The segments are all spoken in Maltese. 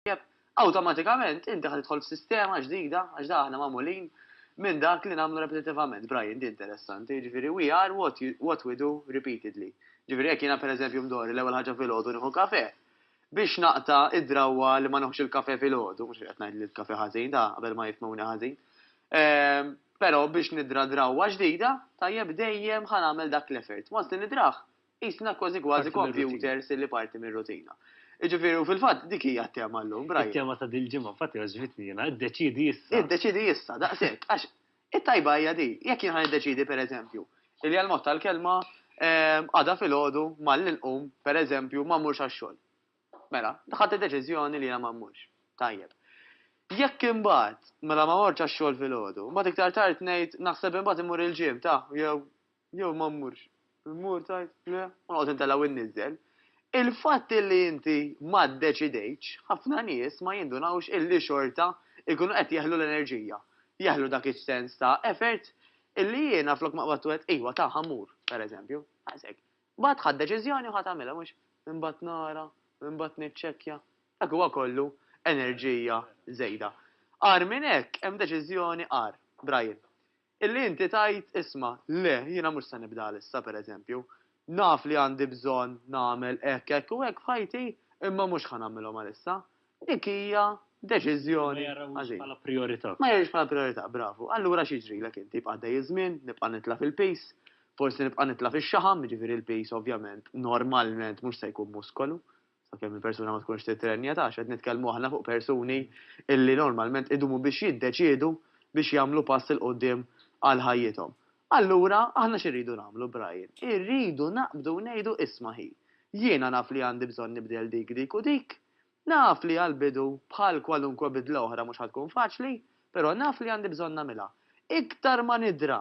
tajjeb, awtomatikament inti ħa tidħol f'sistema ġdida għax da aħna magħmulin minn dak li nagħmlu repetitivament. Brian, di interessanti, jiġifieri we are what, what we do repeatedly. Ġifieri jekk jiena pereżempju mdorri l-ewwel ħaġa filgħodu nieħu kafè, biex naqta' id-drawwa li ma nieħux il-kafè filgħodu, mhux qed ngħid li l-kafè ħażin da qabel ma jifmuni ħażin. Ehm, però biex nidra drawwa ġdida, tajjeb dejjem ħa nagħmel dak l-effort. Once li nidrah, Qisna kważi kważi kompjuters li parti mir-rutina. Jiġifieri u fil-fatt dik hija t-tema llum, Brian. It-tema ta' dil-ġimgħa infatti għaġbitni jiena, iddeċiedi issa. Iddeċiedi issa, daqshekk, għax it-tajba hija din, jekk jien ħa niddeċiedi pereżempju li għall-mod tal-kelma għada filgħodu malli nqum, pereżempju, ma mmurx għax-xogħol. Mela, ħadt id-deċiżjoni li jiena ma mmurx. Tajjeb. Jekk imbagħad, mela ma mortx għax-xogħol filgħodu, mbagħad iktar tard ngħid naħseb imbagħad immur il-gym ta' jew Jew ma mmurx. Immur tgħid, le, u noqgħod intella' u nniżżel. Il-fatt illi inti ma ddeċidejtx, ħafna nies ma jindunawx illi xorta jkunu qed jeħlu l-enerġija, jeħlu dak is-sens ta' effort illi jiena flok ma qbadtu għedt, iva ta, ħa mmur, per eżempju. Daqshekk. Imbagħad ħadt deċiżjoni u ħa tagħmilha, mhux? Imbagħad nara, imbagħad niċċekkja. Dak huwa kollu enerġija żejda. Agħar minn hekk hemm deċiżjoni agħar, Brian. Illi inti tgħid, isma', le, jiena mhux se nibda għal issa, per eżempju. Naf li għandi bżonn nagħmel hekk, hekk u hekk f'ħajti, imma mhux ħa nagħmilhom għal issa. Dik hija deċiżjoni għażil. Ma jarahiex bħala prijorità. Ma jarahiex bħala prijorità, bravu. Allura x'jiġrilek inti? Jibqa' għaddej iż-żmien, nibqa' nitla' fil-piż, forsi nibqa' nitla' fix-xaħam, jiġifieri l-piż ovvjament, normalment mhux se jkun muskolu. sakemm il-persuna ma tkunx titrenja, taf x'qed nitkellmu aħna fuq persuni illi normalment idumu biex jiddeċiedu biex jagħmlu pass 'il quddiem għal ħajjithom. Allura, aħna x'irridu nagħmlu, Brian? Irridu naqbdu u ngħidu, isma' hi, jiena naf li għandi bżonn nibdel dik, dik u dik, naf li għall-bidu bħal kwalunkwe bidla oħra mhux ħa tkun faċli, però naf li għandi bżonn nagħmilha. Iktar ma nidra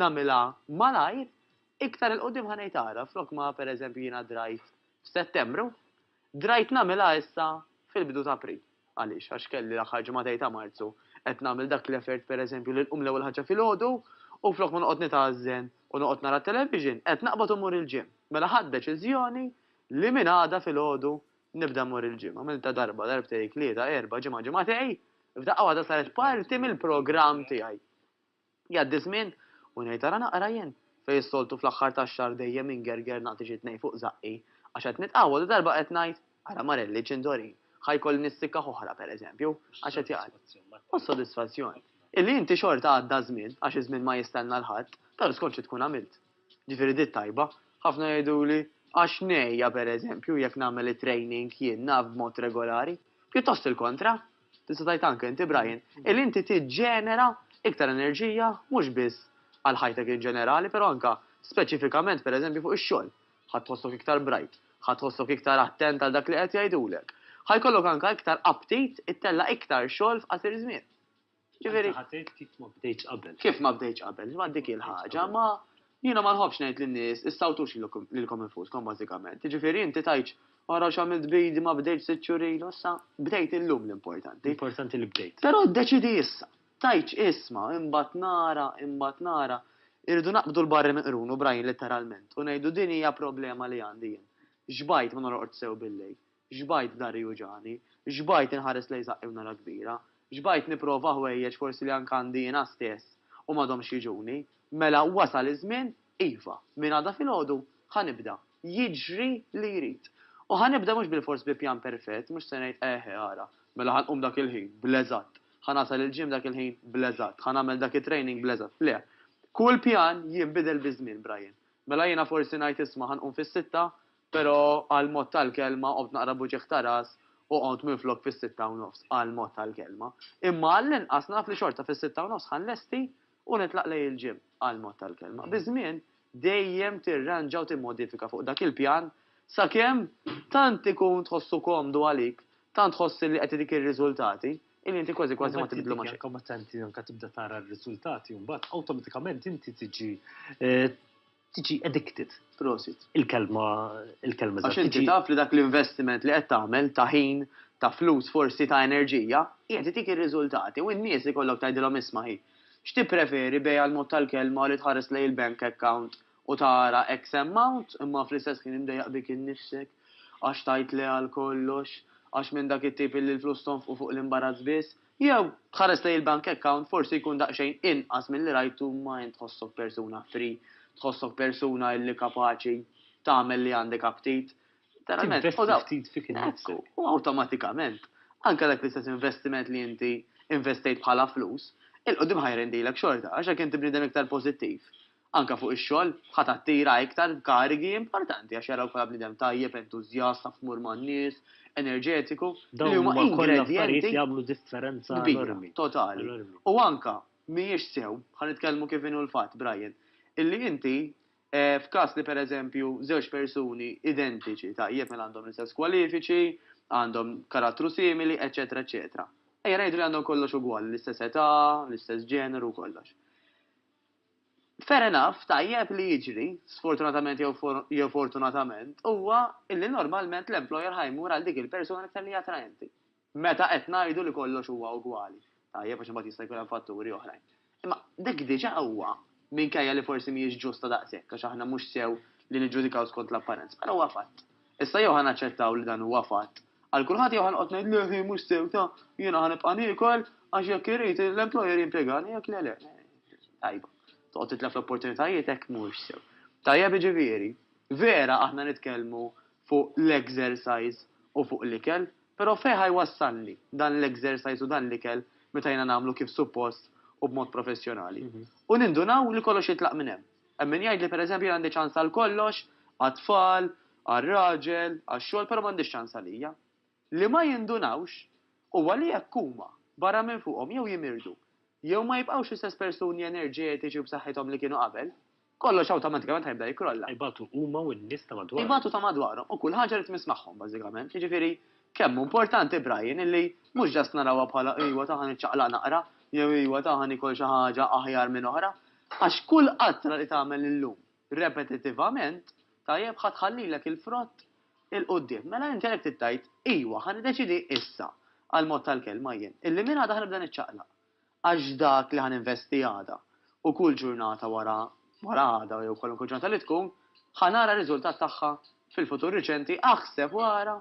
nagħmilha malajr, iktar 'il quddiem ħa ngħid ara, flok ma pereżempju jiena drajt f'Settembru, drajt nagħmilha issa fil-bidu ta' April. Għaliex? Għax kelli l-aħħar ġimagħtej ta' Marzu qed nagħmel dak l-effort pereżempju li nqum l-ewwel ħaġa filgħodu u flok ma noqgħod nitgħażżen u noqgħod nara t-television, qed naqbad u mmur il-gym. Mela ħadt deċiżjoni li minn għada filgħodu nibda mmur il-gym. Għamiltha darba, darbtejk, tlieta, erbgħa, ġimgħa, ġimagħtej, f'daqqa waħda saret parti mill-programm tiegħi. Jgħaddi ż-żmien u ngħid ara naqra jien, fejn s-soltu fl-aħħar tax-xahar dejjem ingerger nagħti xi tnejn fuq żaqqi, għax qed nitqawwa u darba qed ngħid, ara marelli ċindorin, ħa jkolli nissikkaħ oħra, per eżempju, għax qed jgħaddi. U s-sodisfazzjon. Illi inti xorta għadda ż-żmien, għax iż-żmien ma jistenna 'l ħadd, tara skont xi tkun għamilt. Ġifieri di t-tajba. Ħafna jgħiduli, għax ngħejja, per eżempju, jekk nagħmel it-training jien, naf, b'mod regolari. Pjuttost il-kontra. Tista' tgħid anke inti Brian, illi inti tiġġenera iktar enerġija mhux biss għal ħajtek in ġenerali, però anke speċifikament pereżempju fuq ix-xogħol. Ħa tħossok iktar bright, ħa tħossok iktar attent għal dak li qed jgħidulek. Ħa jkollok anke iktar aptit ittella' iktar xogħol f'qasir żmien. Ġifieri. Anke ħa tgħid kif ma bdejtx qabel. Kif ma bdejtx qabel. Dik hi l-ħaġa. Ma Jiena ma nħobbx ngħid lin-nies issawtux lilkom infuskom bażikament. Jiġifieri inti tgħidx ara x'għamilt b'idi ma bdejtx sitt xhur ilu issa bdejt illum l-importanti. L-importanti li bdejt. Però ddeċidi issa. Tgħidx isma' imbagħad nara, imbagħad nara. Irridu naqbdu l-barri minn qrunu, Brian, litteralment, u ngħidu din hija problema li għandi jien. Xbajt ma norqodx sew billejl. Xbajt dahri juġagħni. Xbajt inħares lejn saqqi u nara kbira. Xbajt nipprova ħwejjeġ forsi li anke għandi jiena stess u m'għadhomx jiġuni. Mela wasal iż-żmien, iva, minn għada filgħodu ħa nibda. Jiġri li jrid. U ħa nibda mhux bilfors bi pjan perfett, mhux se ngħid eħe ara, mela ħa nqum dak il-ħin, bl-eżatt. Ħa nasal il-gym dak il-ħin, bl-eżatt. Ħa nagħmel dak it-training, bl-eżatt. Le. Kull pjan jinbidel biż-żmien, Brian. Mela jiena forsi ngħid isma' ħa nqum fis-sitta, Pero qal mod tal-kelma, qombt naqra b'uġigħ ta' ras u qomt minflok fis-sitta u nofs, qal mod tal-kelma. Imma għall-inqas naf li xorta fis-sitta u nofs ħa nlesti u nitlaq lejn il-gym, qal mod tal-kelma. Biż-żmien, dejjem tirranġa u timmodifika fuq dak il-pjan sakemm tant ikun tħossu komdu għalik, tant tħoss li qed itik ir-riżultati, illi inti kważi kważi ma tibdlu ma' xejn. Imbagħad inti anke meta inti tibda tara r-riżultati mbagħad awtomatikament inti tiġi Tiġi addicted. Prosit. Il-kelma, il-kelma eżatt. Għax inti taf li dak l-investiment li qed tagħmel ta' ħin, ta' flus forsi, ta' enerġija, qiegħed itik ir-riżultati u n-nies ikollok tgħidilhom isma' hi, x'tippreferi bejgħ għall-mod tal-kelma u li tħares lejn il-bank account u tara X amount imma fl-istess ħin imdejjaq bik innifsek għax tgħid le għal kollox, għax minn dak it-tip illi l-flus tonfqu fuq l-imbarazz biss. Jew, tħares lejn il-bank account forsi jkun daqsxejn inqas milli rajtu ma int tħossok persuna free, tħossok persuna illi kapaċi tagħmel li għandek aptit. Tinvesti ftit fik innifsek. Hekk hu, u awtomatikament, anke dak l-istess investiment li inti investejt bħala flus, 'il quddiem ħa jrendilek xorta għax jekk inti bniedem iktar pożittiv, Anke fuq ix-xogħol, ħa tattira iktar karigi importanti għax jaraw bħala bniedem tajjeb, entużjast, taf tmur man-nies, enerġetiku, li huma ingredjenti kbira, totali. U anke, mhijiex sew, ħa nitkellmu kif inhu l-fatt, Brian, illi inti, f'każ li pereżempju żewġ persuni identiċi, tajjeb, mela għandhom l-istess kwalifiċi, għandhom karattru simili, eċċetera, eċċetera. Ejja ngħidu li għandhom kollox ugwali, l-istess età, l-istess ġeneru u kollox. Fair enough, tajjeb li jiġri, sfortunatament jew fortunatament, huwa li normalment l-employer ħa jmur għal dik il-persuna l-iktar li hi attraenti. Meta qed ngħidu li kollox huwa ugwali. Tajjeb għax imbagħad jista' jkun hemm fatturi oħrajn. Imma dik diġà huwa, minkejja li forsi mhijiex ġusta daqshekk għax aħna mhux sew li niġġudikaw skont l-apparenza, però huwa fatt. Issa jew ħa naċċettaw li dan huwa fatt għal kulħadd jew ħa noqgħod ngħid le hi mhux sew ta' jiena ħa nibqa' niekol għax jekk irid l-employer jimpjegani jekk le le. Tajba. Toqgħod titlef l-opportunitajiet hekk mhux sew. Tajjeb jiġifieri, vera aħna nitkellmu fuq l-exercise u fuq l-ikel, però fejn ħa jwassalni dan l-exercise u dan l-ikel meta jiena nagħmlu kif suppost u b'mod professjonali? U nindunaw li kollox jitlaq minn hemm. Hemm min jgħidli, pereżempju, jien għandi ċans għal kollox, għat-tfal, għar-raġel, għax-xogħol, però m'għandix ċans għalija. Li ma jindunawx huwa li jekk huma, barra minn fuqhom, jew jimirdu, jew ma jibqgħux l-istess persuni enerġetiċi u b'saħħithom li kienu qabel, kollox awtomatikament ħa jibda jikkrolla. Ibatu huma u n-nies ta' madwarhom. Ibatu ta' madwarhom u kull ħaġa li tmiss magħhom, bażikament. Jiġifieri, kemm hu importanti, Brian, illi mhux just narawha bħala, ejwa, ta' ħa niċċaqlaq naqra, jew, ejwa, ta' ħa niekol xi ħaġa aħjar minn oħra, Għax kull qatra li tagħmel illum repetittivament, tajjeb, ħa tħallilek il-frott 'il quddiem. Mela inti għalhekk trid tgħid, Ijwa, ħa niddeċiedi issa, għall-mod tal-kelma jien, illi minn għada ħa nibda niċċaqlaq. Għax dak li ħa ninvesti għada, u kull ġurnata wara wara għada jew kwalunkwe ġurnata li tkun, ħa nara r-riżultat tagħha fil-futur riċenti, aħseb u ara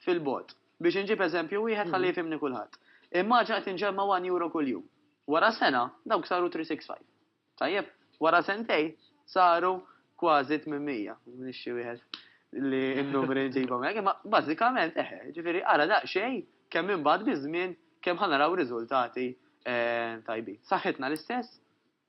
fil-bogħod. Biex inġib eżempju wieħed ħalli jifhimni kulħadd. Immaġina qed inġemma' one euro kuljum. Wara sena, dawk saru 365. Tajjeb, wara sentejn saru kważi 800, nixxi wieħed li n-numri nġibhom hekk, imma bażikament eħe, ġifieri ara daqsxejn kemm imbagħad biż-żmien kemm ħa naraw riżultati ehm, tajbin. Saħħitna l-istess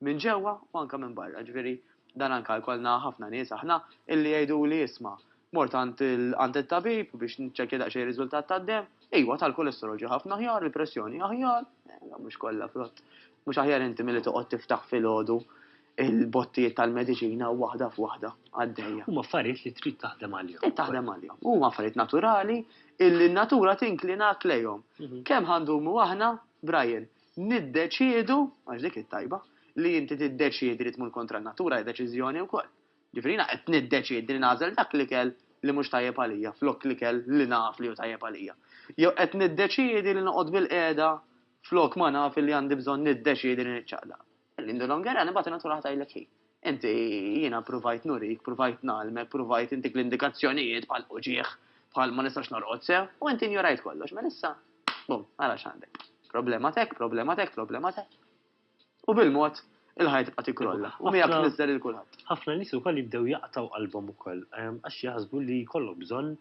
minn ġewwa u anke minn barra, ġifieri dan anke jkollna ħafna nies aħna illi jgħiduli isma' Mort għand it-tabib biex niċċekkja daqsxejn ir-riżultat tad-demm. Iwa, tal-kolesterol ġie ħafna aħjar, il-pressjoni aħjar, eh, mhux kollha frott. Mhux aħjar inti milli toqgħod tiftaħ filgħodu il-bottijiet tal-mediċina waħda f'waħda għaddejja. Huma affarijiet li trid taħdem għalihom. Trid taħdem għalihom. Huma affarijiet naturali illi n-natura tinklina lejhom. Mhm. Kemm ħandumu aħna, Brian, niddeċiedu, għax dik it-tajba, li inti tiddeċiedi li tmur kontra n-natura deċiżjoni wkoll. Ġifieri jiena qed niddeċiedi li nagħżel dak l-ikel li mhux tajjeb għalija flok l-ikel li naf li hu tajjeb għalija. Jew qed niddeċiedi li noqgħod bilqiegħda flok ma naf illi għandi bżonn niddeċiedi li niċċaqlaq. Il-Linda Longerani mbagħad in-natura ħa tgħidlek hi. Inti, jiena pruvajt nurik, pruvajt ngħallmek, pruvajt intik l-indikazzjonijiet bħal uġigħ, bħal ma nistax norqod sew, u inti injorajt kollox. Mela issa, bum, ara x'għandek. Problema t'hekk, problema t'hekk, problema t'hekk. U bil-mod il-ħajja tibqa' tikkrolla u miegħek tniżżel lil kulħadd. Ħafna nies ukoll jibdew jaqtgħu qalbhom ukoll għax jaħsbu li jkollhom bżonn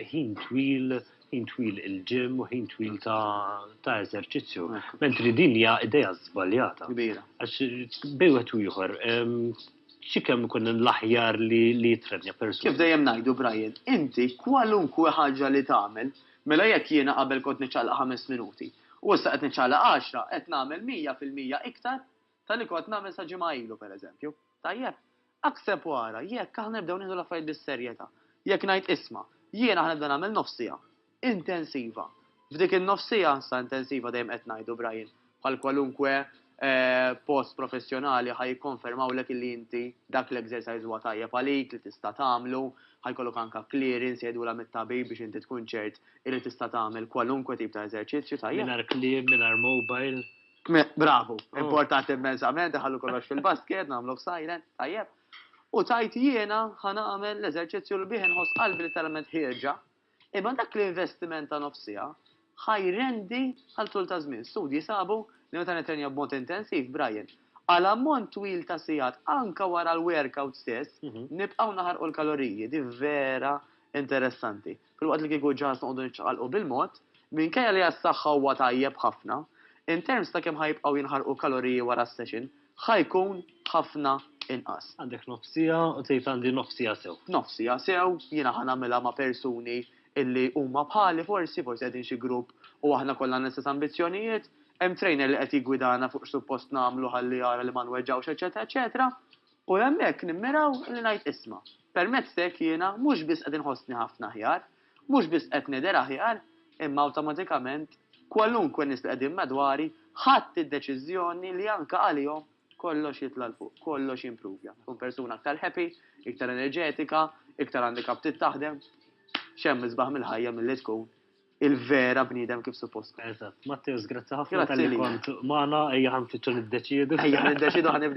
ħin twil, ħin twil il-ġim u ħin twil ta' eżerċizzju. Mentri din hija idea żbaljata. Kbira. Għax bej wieħed u ieħor xi kemm ikun l-aħjar li jitrenja persuna. Kif dejjem ngħidu Brian, inti kwalunkwe ħaġa li tagħmel, mela jekk jiena qabel kont niċċaqlaq ħames minuti, U issa qed niċċaqlaq għaxra, qed nagħmel mija fil-mija iktar ta' li kont nagħmel sa ġimgħa ilu, pereżempju. Tajjeb? Aħseb u ara, jekk aħna nibdew nieħdu l-affarijiet bis-serjetà, jekk ngħid isma', jiena ħanibda nagħmel nofs siegħa intensiva. F'dik in-nofs siegħa, sa intensiva dejjem qed ngħidu, Brian, bħal kwalunkwe post professjonali ħa jikkonfermawlek illi inti dak l-exercise huwa tajjeb għalik li tista' tagħmlu, ħa jkollok anke clearance jgħidulha mit-tabib biex inti tkun ċert illi tista' tagħmel kwalunkwe tip ta' eżerċizzju, tajjeb? Mingħajr kliem, mingħajr mobile. Bravu, importanti immensament, iħallu kollox fil-basket, nagħmluh silent, tajjeb? U tgħid jiena ħa nagħmel l-eżerċizzju li bih inħoss qalbi literalment ħierġa, Imma dak l-investiment ta' nofs siegħa ħa jrendi għal tul ta' żmien. Studji sabu li meta nittrenja b'mod intensiv, Brian, għal ammont twil ta' sigħat anke wara l-workout stess, nibqgħu naħarqu l-kaloriji. Din vera interessanti. Filwaqt li kieku ġaż noqogħdu niċċaqalqu bil-mod, minkejja li għas-saħħa huwa tajjeb ħafna, in terms ta' kemm ħa jibqgħu jinħarqu kaloriji wara s-session, ħa jkun ħafna inqas. Għandek nofs siegħa u tgħid għandi nofs siegħa sew. Nofs siegħa sew, jiena ħa nagħmilha ma' persuni illi huma bħali forsi, forsi qegħdin xi grupp u aħna kollha għandna l-istess ambizzjonijiet, hemm trainer li qed jiggwidana fuq x'suppost nagħmlu ħalli jara li ma nweġġgħux eċċetera eċċetera. U hemmhekk nimmiraw li ngħid isma', permezz t'hekk jiena mhux biss qed inħossni ħafna aħjar, Mhux biss qed nidher aħjar, imma awtomatikament kwalunkwe nies li qegħdin madwari ħadt id-deċiżjoni li anke għalihom kollox jitla' 'l fuq, kollox jimpruvja. Nkun persuna aktar happy, iktar enerġetika, iktar għandi kap trid taħdem. X'hemm isbaħ mill-ħajja milli tkun il-vera bniedem kif suppost tkun. Eżatt. Matteus, grazzi ħafna tal-li kont magħna, ejja ħanfittxu niddeċiedu. Ejja niddeċiedu ħanibdew.